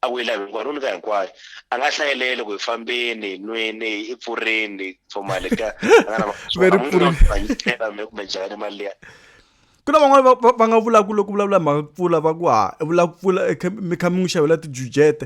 a ku yi lavi hinkwayo no nyika hinkwayo a nga hlayeleli ku hi fambeni nwini i pfurini for mali ka kumbe njhani mali liya ku na van'wana va nga vulaka loko vulavula mhaka ku pfula va ku ha vula ku pfula mi kha mi n'wi xavela tijujete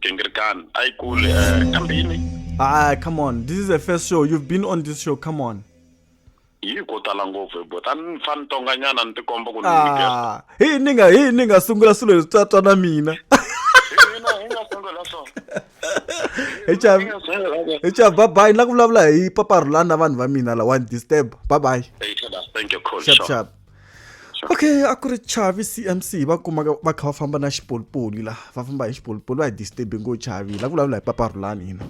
Gingirikani a yi kuli eh, kambini ah come on this is the first show you've been on this show come on yi ko tala ngopfu hi bota ni fa ni tonganyana ni tikomba ku ni nyikela ah hi ni nga hi ni nga sungula swilo leswi twa twa na mina hina hi nga sungula so hi cha hi nga sungula so hi cha bye bye na ku vulavula hi paparhulana na vanhu va mina la one disturb bye bye hey Tada, thank you cool sharp sure. sharp okay a ku ri chavi cmc va kuma va kha va famba na xipolipoli la va famba hi xipolipoli va hi disturbe ngo chavi la vulavula hi paparhulani hina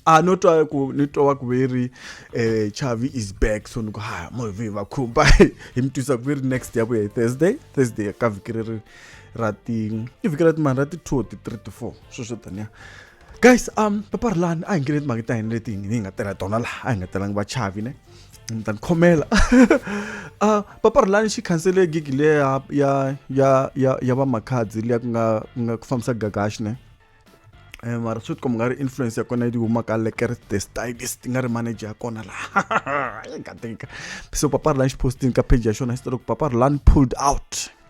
a no twa ku ni twa ku ve ri um chavi is back so ni ku ha movi va khumba hi mi twisa ku ve ri next ya vuya hi thursday thursday ka vhiki ri ri ra ti i vhiki ra timani ra ti-two or ti-three ti-four sweswo taniya guys um papa rilani a hi ngeneni timhaka ta hina leti hi nga tela tona laha a hi nga telangi vachavi ne ni ta ni khomela uh, papa rilani xi khansele gigi le ya ya ya ya ya va makhadzi leya ku nga ku nga ku fambisa gagashi ne eh, mara swi tikomba nga ri influence ya kona yi huma ka leker the stylist nga ri manager ya kona laha yi nga tika so papa rilani xi postini ka page ya xona xi tele ku papa rilani pulled out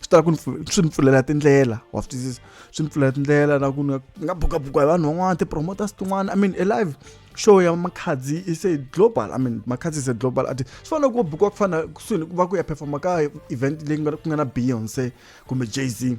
swi tala ku ni swi ni pfulela tindlela wa swi twisisa swi ni pfulela tindlela na ku ni nga bukabuka hi vanhu van'wana ti-promoters tin'wana i mean alive show ya makhadzi is a global i mean makhadzi is a global artist swi fanele ku bukiwa ku fana kusuhi ni ku va ku ya performa ka event leyi ku nga na beyonce kumbe jay z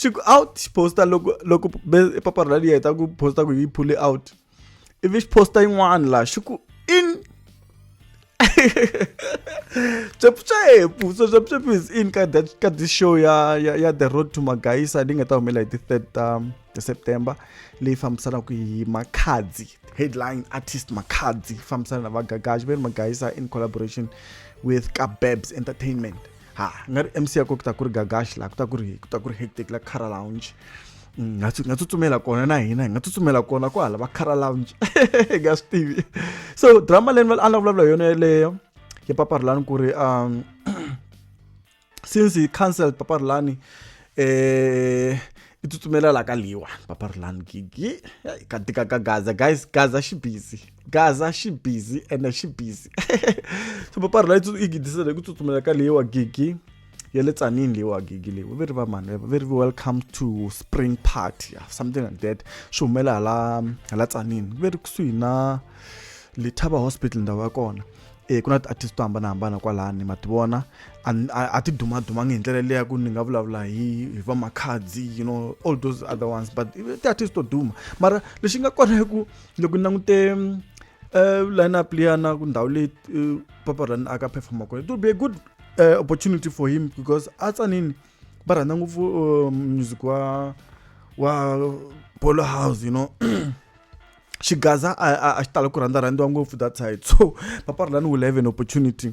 xi ku out xi posta loko loko paparhula liya hi ta ku posta ku yi phule out ivi xi posta yin'wana laha xi ku in swepswephu so swepswephu is in ka that ka this show ya ya ya the road to magaisa leyi nga ta humelela hi ti third ta um, september leyi fambisanaka hi makhadzi headline artist makhadzi fambisana na vagagaji va ri magaisa in collaboration with kabebs entertainment ha nga ri mc ya ko ku ta ku ri gagash la ku ta ku ri ku ta ku ri hectic la cara lounge mm, nga nga tsutsumela kona na hina hi nga tsutsumela kona ku hala va cara lounge hi nga swi tivi so drama leyi a ni vulavula hi yona yeleyo ya paparilani ku ri um since hi cancel paparilani eh i tsutsumela la ka liwa paparilani gigi ka tika ka gaza guys gaza xi busy gaza xi busy ende xi busy so papari layi yi gidisela hi ku tsutsumela ka leyi wa gigi ya le tsanini leyi wa gigi leyi va ri va mani va ri welcome to spring party yeah, something like that swi humela hala hala tsanini va ri kusuhi na lethaba hospital ndhawu ya kona e ku na ti-artist to hambanahambana kwalani ma ti vona a ti dumadumangi hi ndlela leya ku ni nga vulavula hi hi va makhadzi you know all those other ones but ti-artist to duma mara lexi nga kona i ku loko ni langute eh, line up liya na ku ndhawu leyi eh, papa rani a ka performa kona it will be a good eh, opportunity for him because a tsanini va rhandza ngopfu um, music wa wa polo house you know xigaza a xi tala ku rhandza rhandziwa ngopfu that side so papa rani will have an opportunity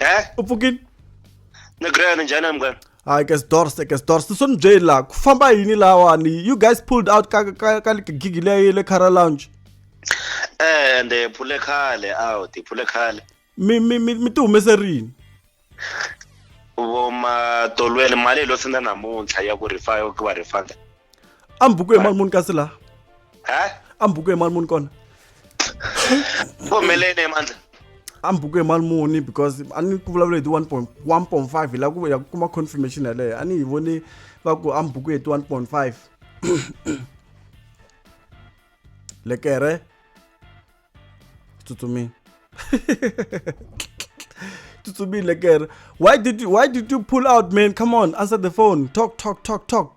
He? u pfukile ni grand njhani a munghana hayi ke sidors ke sidors so ni byeli laha ku famba yini lawani you guys pulled out ka ka ka gigi leyi le cara lounge eh ende phule khale out phule khale mi mi mi mi ti humese rini vo matolweni mali yi lo senda namuntlha ya ku rifa ya ku va rifanda a mi buku hi mali muni kasi laha ha a mi buku hi mali muni kona ku humeleni emandla a mi buku hi mali muni because a ni ku vulavula hi ti one point one point five hi la ku ya ku kuma confirmation yaleyo a ni yi voni va ku a mi buku hi ti one point five lekere tsutsumini tsutsumini lekere why did you why did you pull out man come on answer the phone talk talk talk talk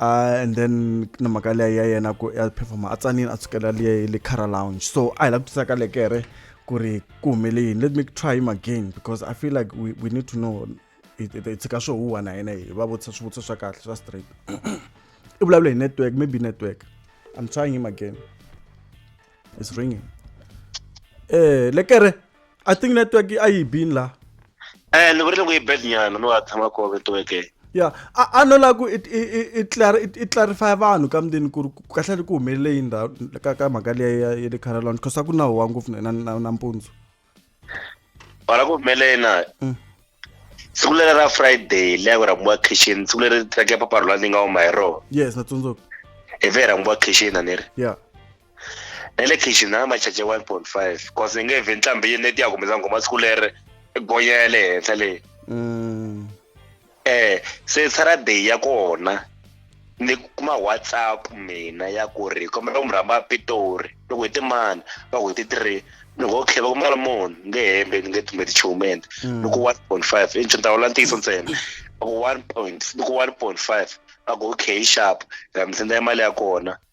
Uh, and then na mhaka leyi ya yena ku ya performa a tsanile a tsukela liya le cara lounge so a hi lava ku tisaka lekere ku ri ku humele yini let me try him again because i feel like we, we need to know hi tshika swo huwa na yena hi va vutisa swivutiso swa kahle swa straight i vulavula hi network maybe network i'm trying him again it's ringing eh lekere i think network a yi bini laha um ni vurile ku yi bad nyana no a tshama kove network ya a a no lava ku i i i i clar i i clarify vanhu ka mundini ku ri ku- kahle ri ku humelele yini ndhawu ka ka mhaka leyi ya ya le carolon because a ku na huwa ngopfu na na na nampundzu wala ku humelena Mm. siku leri ra friday le ya ku rhambiwa kitchen siku leri track ya papa rhula ni nga huma hi rona yes na tsundzuka hi ve hi rhambiwa kitchen a ni ri ya na le kitchen na machache one point five cause ni nge vhe ntlhambi yini leti ya kumisa nghoma siku leri gonya ya le henhla leyi mm. eh se saturday ya kona ni kuma whatsapp mina ya ku ri kombela ku mi rhamba pitori ni ku hi timani va ku hi ti three ni ngo okay va ku mali muni ni nge hembe ni nge tumeti nchumu ende ni ku one point five i nchumu ta vula ntiyiso ntsena va ku one point ni ku one point five va ku okay yi xapu ra mi sendela mali ya kona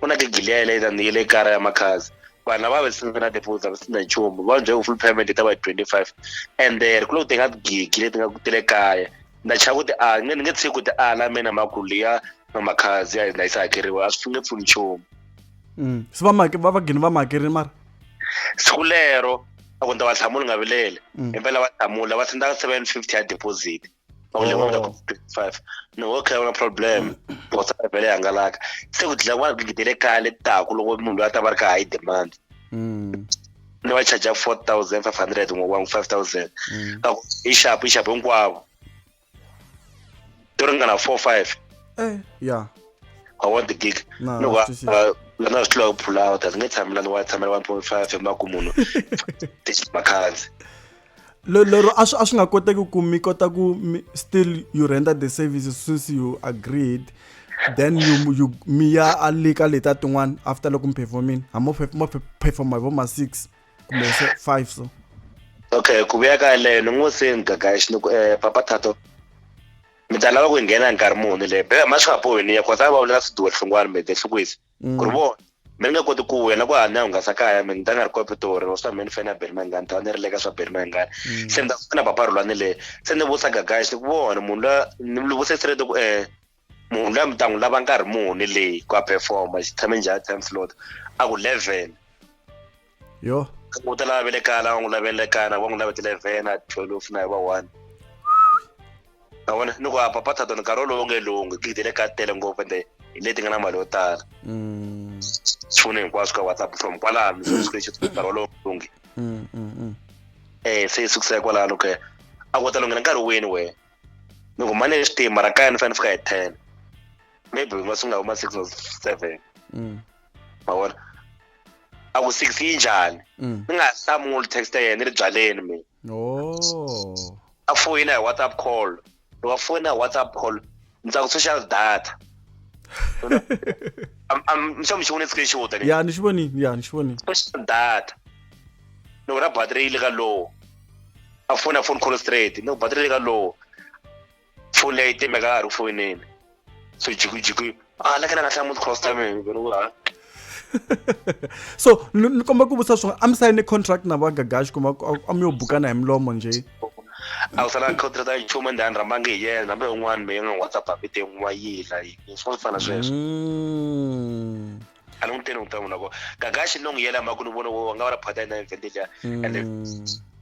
ku na tigiliya le ta ni le kara ya makhazi vanhu lava va sina na deposit a va sina nchumu va byela ku full payment yi ta va hi twenty five and there ku loko ti nga gigi leti nga ti le kaya na chava ku ti ala ni nge tshiki ku ti ala mina makulu liya na makhazi ya hina yi sa hakeriwa a swi nge pfuni nchumu mm. se va va va gini va ma hakerile mara siku lero a ku ni ta va hlamula nga vilele mm. impela va hlamula va senda seven fifty ya deposit or leyi nga ku 55 ni ngo khaya na problem botsa ya vele hangalaka se ku dlaya vanhu gidi le kaya le taku loko munhu loyi a ta va ri ka high demand mm. ni va charger 4500 n'we wangu 5000 ka ku i xapu i xapu hinkwavo to ringana 4 5 eh ya i want the gig no va lana swi tlula ku pull out a ndzi nge tshamela ni wa tshamela 1.5 emaku munhu makhanzi lero a swi a swi nga koteki ku mi kota ku mi still you render the services since you agreed then you you mi ya a le ka leta tin'wana after loko mi performini ha mo mo performa hi vo ma six kumbe se five so okay ku vuya ka leyo ni ngo se ngagaxi ni ku eh papa thato mi ta lava ku nghena nkarhi muni le be ma swi nga bohi ni ya kota va vula swiduwa hlungwana mi te hlukwisi mm. ku ri vona mi ri nga koti ku wena ku hanya hungasa kaya mi ni ta nga ri kwapitori or swa mi ni fana beri mangani ta va ni ri le ka swa beri mangani mm. se ni ta fana papa rhulwani le se ni vusa gagaya xi ku vona munhu la ni lu vuse sirete ku um munhu la mi ta n'wi lava nkarhi muni leyi ku a performa xi tshame njhani time slot a ku eleven yo u ta lava velekana va n'wi lavelekana va n'wi lavetele vena twelve na hi va one a vona ni ku a papa thato nkarhi wolowo nge lunghi gidi le ka tele ngopfu ende hi leti nga na mali yo tala mm. swipfuno hinkwaswo ka whatsapp from kwalano nkarhi wolowo nge lunghi mm, mm, eh se sukisa kwalano ke a ku ta lunghela nkarhi wini wena ni ku mane xitima ra kaya ni fanele fika hi ten maybe ma sungula huma six or seven mavona a ku six yi njhani mm. ni nga hlamuli text ya yena ni ri byaleni mina oh. a foyina hi whatsapp call ni wa foyina hi whatsapp call ni tsaka social data mixo mi xi vone screenshot ya ni xi voni ya ni xi voni social data ni ku ra battery yi le ka low a fona phone call straight ni ku battery yi le ka low foni leyi timeka ha ri fonini so jikujiko a la kana nga hlamu costa me ngeno wa so ni komba ku vutisa swona a mi sayine contract na va gagashi kuma a mi yo bukana hi milomo nje a ku sala contract ya nchumu ndi a ni rhambangi hi yena hambi un'wana meyi nga n'wi whatsapp a vite n'wi wa yila yini swi fana sweswo mm. a ni n'wi teni n'wi ta n'wi loko gagaxi no n'wi yela mhaka ni vona wo nga va la phata yena event liya ende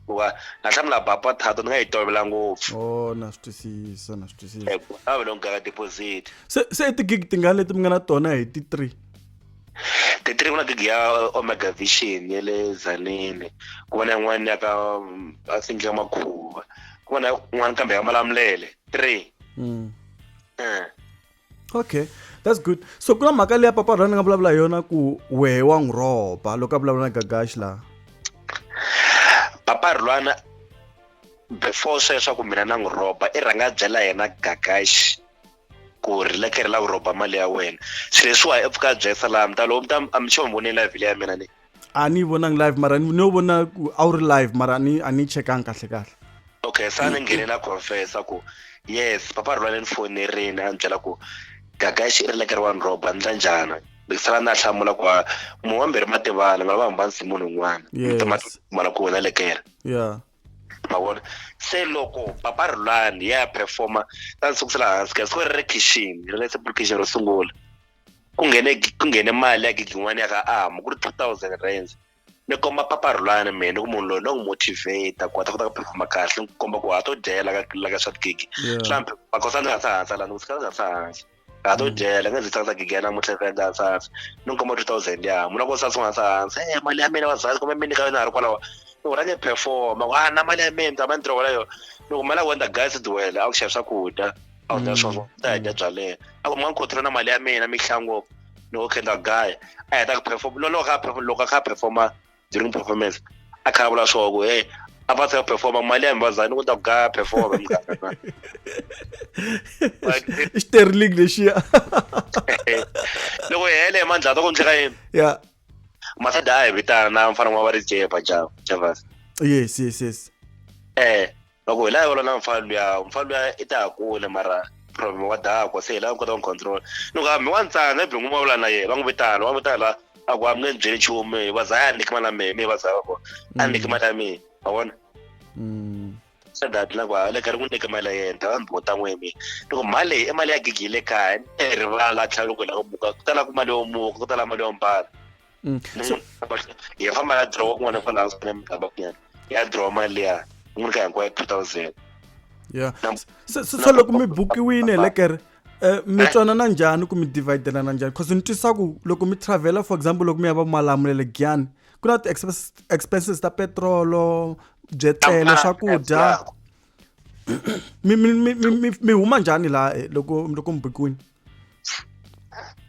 hikuva na hlamula baba thato ni nga yi tovela ngopfu o na swi twisisa na swi twisisa a va loko gaga deposit se se i tigig tingani leti mi nga na tona hi ti three ti three ku na gig ya omega vision ya le zanini ku va na yin'wana ya ka i think ya makhuva ku va na yin'wana kambe ya malamulele three mm. eh. okay that's good so ku na mhaka leya papa rhani nga vulavula hi yona ku wehe wa n'wi rhoba loko a vulavula na gagaxi laha papa rhulwana before sweswo ku mina na n'wi rhoba i rhanga a byela yena gagaxi ku ri leke ri lava ku rhoba mali ya wena se leswiwa i pfuka a byela salami ta loko mi ta mi sure mi vonile vhile ya mina ni a ni yi vonangi live mara ni yo vona ku a wu ri live mara a ni a ni chekangi kahle kahle okay sa ni nghene na confessa ku yes papa rhulane ni fonerini a ni byela ku gaga xi ri lekeri wa ni roba ni ndla njhani ni sala na hlamula ku munhu wambirhi ma tivana nga va hamba nsi munhu un'wana mala ku wena lekere yeah ma vona se loko papa rhulani ya ya performa ta ni sukusela hansi ka siku ri ri khixini ri le sepulukixini ro sungula ku nghene ku nghene mali ya gidlin'wana ya ka amu ku ri two thousand rands ni komba papa rhulani mehe ni ku munhu loyi no n'wi motivate ku a ta kota ku performa kahle ni ku komba ku ha to dyela ka la ka swa tigigi hlampe magosa ni nga sa hansa lani ku sika ni nga sa hansa ha to dyela nga ndzi tsakisa gigi ya namuntlha ni endla hansasa ni n'wi komba two thousand ya mu na ku sasa u nga sa hansa e mali ya mina vazali kumbe mi nyika yona ha ri kwalawa ni ku rhange performa ku a na mali ya mina ni ta ma ni tirho walayo ni ku mali ya wena guys ti wela a ku xava swakudya a wu leswo mm. ta hanya bya leyo a ku mwa nkhothela na mali ya mina mihlango ni wo khendla gaya a heta ku perform loloko kha perform loko kha performa during performance a kha vula swo ku hey a va ta performa mali ya mbazani ku ta ku gaya performa mukaka sterling lexiya loko hele hi mandla ta ku ndleka yini ya masada a hi vitana na mfana wa va ri jepa java yes yes yes eh va ku hi la yola na mfana luya mfana luya i ta ha kule mara problem wa dakwa se hi la kota ku control ni ku hambi wa ntsana ibhi n'wi vulavula na yena va n'wi vitana va n'wi vitana la a ku hambi nge ni byeli nchumu hi va za a niki mali ya mehe mi hi va za va kona a niki mm. mali ya mehe wa vona mm. se dati na ku a le ka ri n'wi niki mali ya yena ta va ndzi bota n'we mi ni ku mali leyi i mali ya gigi yi le kaya ni rivala tlhela loko hi la ku muka ku tala ku mali yo muka ku tala mali yo mbala Mm. So, hi famba ya draw kun'wana fana a swi mikamba kunyana ya draw mali leya n'wi ka hinkwayo two thousand ya se se loko mi bukiwini elekere um mi eh. twanana njhani ku mi dividelana njhani because ni twisa ku loko mi travela for example loko mi ya va malamulele giyani ku na ti-expenses ta petrolo byetlele swakudya mi mi mi mi mi huma njhani laha eh, loko loko mi bukiwini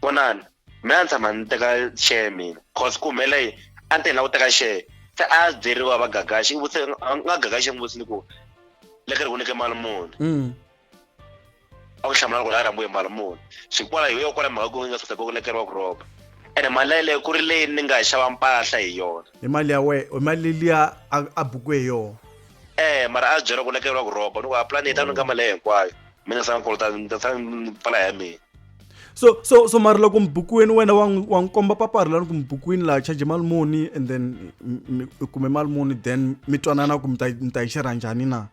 vonani mina a ni tshama ni teka share mina cause ku humele yini a ni te ni la ku teka share se a byeriwa va gagaxi i vutise a nga gagaxi n'wi vutisi ni ku le ka ri ku nyike mali muni mm. a ku hlamula loko la rambuye mali muni swi kwala hi yo kwala mhaka ku nga saseka ku lekeriwa ku roba ene mali yaleyo ku ri leyi ni nga xava mpahla hi yona hi mali ya wena hi mali liya a buku hi yona eh mara a byeriwa ku lekeriwa ku roba ni ku a plan yi ta ni ka mali leyi hinkwayo mi nga sanga kolota ni ta sanga pfala ya mina so so so mari loko mbukwini wena wa wa nkomba papa ri lani ku mbukwini la charge mali muni and then u kume mali muni then mi twanana ku mi ta mi ta yi xerha njhani na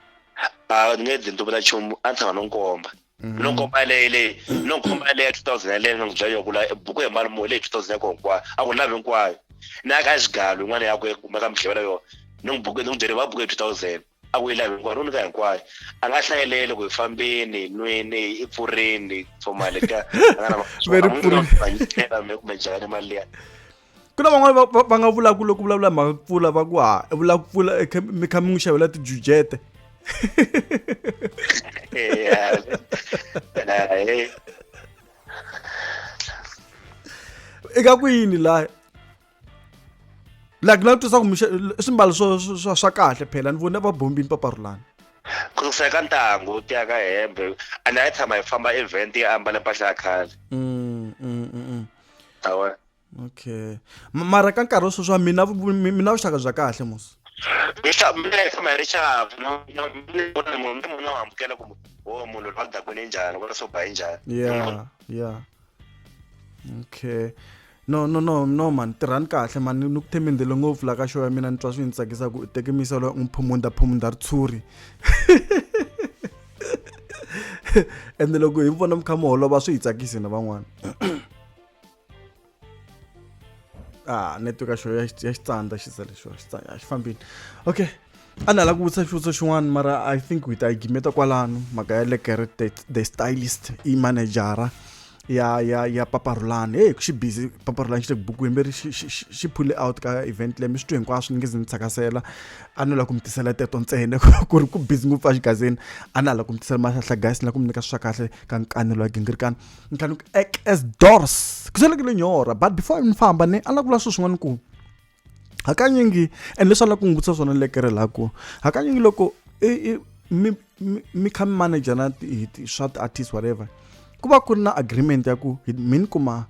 a ni nge dlinto vula nchumu a ni tshama no nkomba mm-hmm. no nkomba leyi leyi no nkomba yaleyi ya two thousand yaleyi ni nga byela yo kula buku hi mali muni leyi two thousand yako hinkwayo a ku lavi hinkwayo na ya ka xigalu yin'wana ya ku kumeka mi hlevela yona ni n'wi buku ni n'wi byele va buku hi two thousand a ku yi lavi hinkwayo ro nyika hinkwayo a nga hlayeleli ku hi fambeni hi nwini hi i pfurini pfumale ka a nga na Ve ri pfurile. me kumbe njhani mali liya ku na van'wana va- va- va nga vulaka loko vulavula hi mhaka ku pfula va ku ha i vula ku pfula i kha- mi kha mi n'wi xavela tijujete Yeah. Nah, eh. eka ku yini laha like na twisaka mixe swimbalo swo swa swa kahle phela ni vone va bombini paparulani ku susa eka ntangu ti ya ka hembe and a yi tshama yi famba event yi ambale mpahla ya khale mm, mm, mm, awa okay mara ka nkarhi wo sweswi wa mina mina vuxaka bya kahle musi mina yi tshama yi ri xavu munhu munhu amukela ku o munhu lwa dakwini njhani kwala swo ba yi njhani ya ya okay no no no no man tirhani kahle man ni ku themendele ngopfu la ka show ya mina ni twa swi ni tsakisa ku teke misalo n'wi phumunda phumunda ritshuri ende loko hi vona mi kha mi holova swi hi tsakisi na van'wana ah network ya xitsandza xi za lexiwa xitsandza a xi fambini okay a ni ala ku vutisa xivutiso xin'wana mara i think hi ta yi gimeta kwalano mhaka ya lekere the stylist i manejara ya ya ya paparulani heyi xi busy paparulani xi le buku yemberi xi phule out ka event leyi mi swi twi hinkwaswo ni nge ze ni tsakasela a ni la ku mi tisela teto ntsena ku ri ku busy ngopfu a xigazeni a ni ala ku mi tisela mahlahla guys ni la ku mi nyika swa kahle ka nkanelo ya gingirikana ni tlhanu as dors ku selekile nyora but before ni famba ni a ni la ku vula swilo swin'wana ku hakanyingi and leswi a la ku n'wi vutisa swona lekere la ku hakanyingi loko mi mi kha mi manager na swa ti-artist whatever ku va ku ri na agreement ya ku mi ni kuma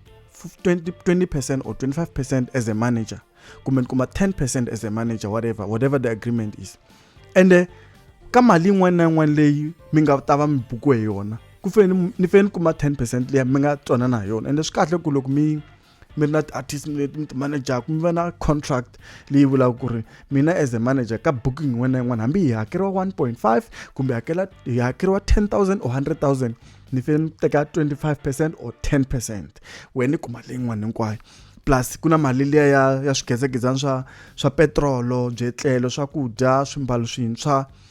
20, 20 percent or 25 percent as a manager kumbe ni kuma 10 percent as a manager whatever whatever the agreement is ende eh, ka mali yin'wana na yin'wana leyi mi nga ta va mi bukiwe hi yona ku fanele ni fanele ni kuma 10 percent leyi mi nga twanana hi yona ende eh, swi kahle ku loko mi mi ri na ti-artist mi mi ti manejaka mi va na contract leyi vulaka ku ri mina as a manager ka booking yin'wana na yin'wana hambi hi hakeriwa one point five kumbe hakela hi hakeriwa ten thousand or hundred thousand ni fane ni teka twenty five percent or ten percent wena ni kuma leyi yin'wana hinkwayo plus ku na mali liya ya ya swigezegezana swa swa petirolo byetlelo swakudya swimbalo swintshwa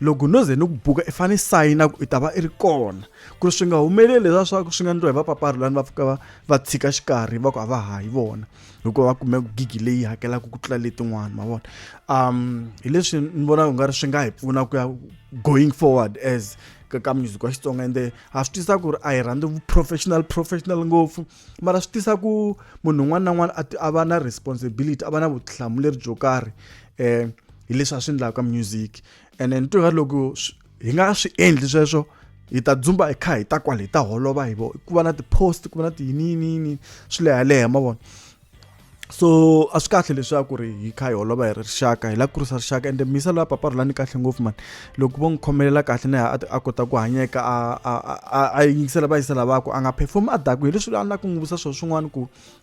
loko no ze ni ku buka i fanele sayina ku i ta va i ri kona ku ri swi nga humeleli leswaku swi nga ndliwa hi vapaparilani va fika va va tshika xikarhi va ku a va ha hi vona hikuva va kume gigi leyi hakelaka ku tlula letin'wana ma vona um hi leswi ni vonaka ku nga ri swi nga hi pfuna ku ya going forward as ka ka music wa xitsonga ende ha swi tisa ku ri a hi rhandzi vu-professional professional ngopfu mara swi tisa ku munhu un'wana na un'wana a va na responsibility a va na vutihlamuleri byo karhi eh hi leswi a swi endlaka ka music and then twa loko hi nga swi endli sweswo hi ta dzumba hi kha hi ta kwale hi ta holova hi vo ku va na ti-post ku va na tiyiniyiniyini swi leha leha ma vona so a swi kahle leswaku ri hi kha hi holova hi ri rixaka hi la kurisa rixaka ende misa la papa rulani kahle ngopfu mani loko vo n'wi khomelela kahle na a kota ku hanyeka a yingisela vayisela vakwe a nga perform a daku hi leswi a ni la ku n'wi vutisa swona swin'wana ku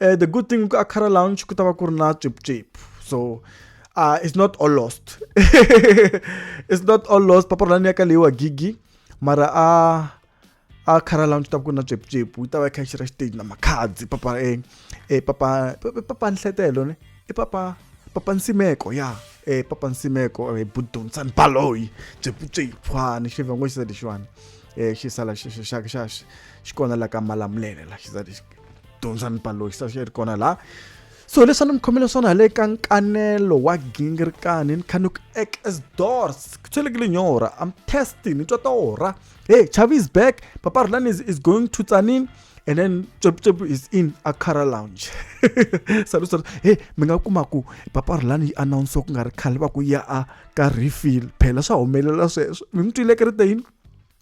uh, the good thing ka Akara Lounge ku ta va ku ri na chip chip so uh, it's not all lost it's not all lost papa rani ya ka leyi wa gigi mara a uh, a khara lounge ta ku na chip chip yi ta va kha xira stage na makhadzi papa e e papa papa nhletelo ne e papa papa nsimeko ya e papa nsimeko e budonsan baloyi chip chip ha ni xivango xi sa lexiwani e xi sala xi xi xi xi xi kona la ka malamulele la xi sa lexi dyondzani balo hi sasha ri kona laha so leswi a ni mi khomele swona hi le ka nkanelo wa gingirikani ni kha ni ku ek as doors ku tswelekile nyora am testing ni twa ta ora hey chavi is back papa rulani is, is going to tsanin and then chopchop is in a cara lounge salu salu hey mi nga kuma ku papa rulani yi announce ku nga ri khale va ku ya a ka refill phela swa humelela sweswo mi n'wi twile kerete yini